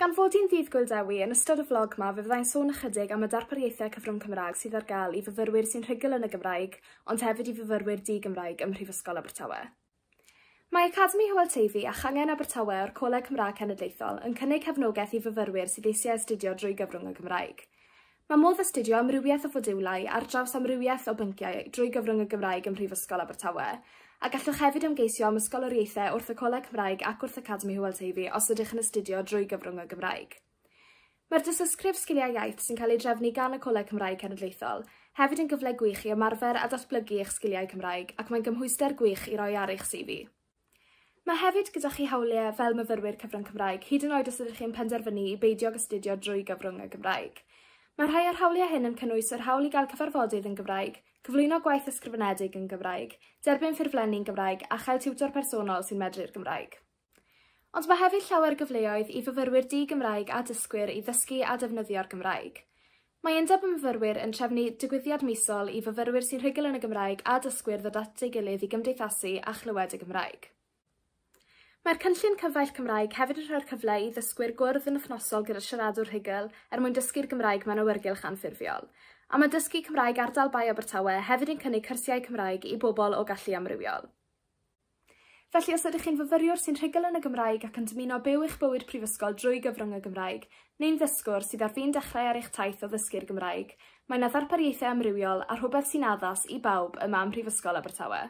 Gan fod hi'n Ddydd Gŵyl Dewi, yn ystod y flog 'ma fe fyddai'n sôn ychydig am y darpariaethau cyfrwng Cymraeg sydd ar gael i fyfyrwyr sy'n rhugl yn y Gymraeg ond hefyd i fyfyrwyr di-Gymraeg ym Mhrifysgol Abertawe. Mae Academi Hywel Teifi a Changen Abertawe o'r Coleg Cymraeg Cenedlaethol yn cynnig cefnogaeth i fyfyrwyr sydd eisiau astudio drwy gyfrwng y Gymraeg. Mae modd astudio amrywiaeth o fodiwlau ar draws amrywiaeth o bynciau drwy gyfrwng y Gymraeg ym Mhrifysgol Abertawe, a gallwch hefyd ymgeisio am ysgoloriaethau wrth y Coleg Cymraeg ac wrth Academi Hywel Teifi os ydych yn astudio drwy gyfrwng y Gymraeg. Mae'r Dystysgrif Sgiliau Iaith sy'n cael ei drefnu gan y Coleg Cymraeg Cenedlaethol hefyd yn gyfle gwych i ymarfer a datblygu eich sgiliau Cymraeg ac mae'n gymhwyster gwych i roi ar eich CV. Mae hefyd gyda chi hawliau fel myfyrwyr cyfrwng Cymraeg, hyd yn oed os ydych chi'n penderfynu i beidio ag astudio drwy gyfrwng y Gymraeg. Mae rhai o'r hawliau hyn yn cynnwys yr hawl i gael cyfarfodydd yn Gymraeg, cyflwyno gwaith ysgrifenedig yn Gymraeg, derbyn ffurflenni'n Gymraeg a chael tiwtor personol sy'n medru'r Gymraeg. Ond mae hefyd llawer gyfleoedd i fyfyrwyr di-Gymraeg a dysgwyr i ddysgu a defnyddio'r Gymraeg. Mae Undeb y Myfyrwyr yn trefnu digwyddiad misol i fyfyrwyr sy'n rhugl yn y Gymraeg a dysgwyr ddod at ei gilydd i gymdeithasu a chlywed y Gymraeg. Mae'r cynllun Cyfaill Cymraeg hefyd yn rhoi'r cyfle i ddysgwyr gwrdd yn wythnosol gyda siaradwr rhugl er mwyn dysgu'r Gymraeg mewn awyrgylch anffurfiol. A mae Dysgu Cymraeg Ardal Bae Abertawe hefyd yn cynnig cyrsiau Cymraeg i bobl o gallu amrywiol. Felly, os ydych chi'n fyfyriwr sy'n rhugl yn y Gymraeg ac yn dymuno byw eich bywyd prifysgol drwy gyfrwng y Gymraeg, neu'n ddysgwr sydd ar fin dechrau ar eich taith o ddysgu'r Gymraeg, mae 'na ddarpariaethau amrywiol a rhywbeth sy'n addas i bawb yma ym Mhrifysgol Abertawe.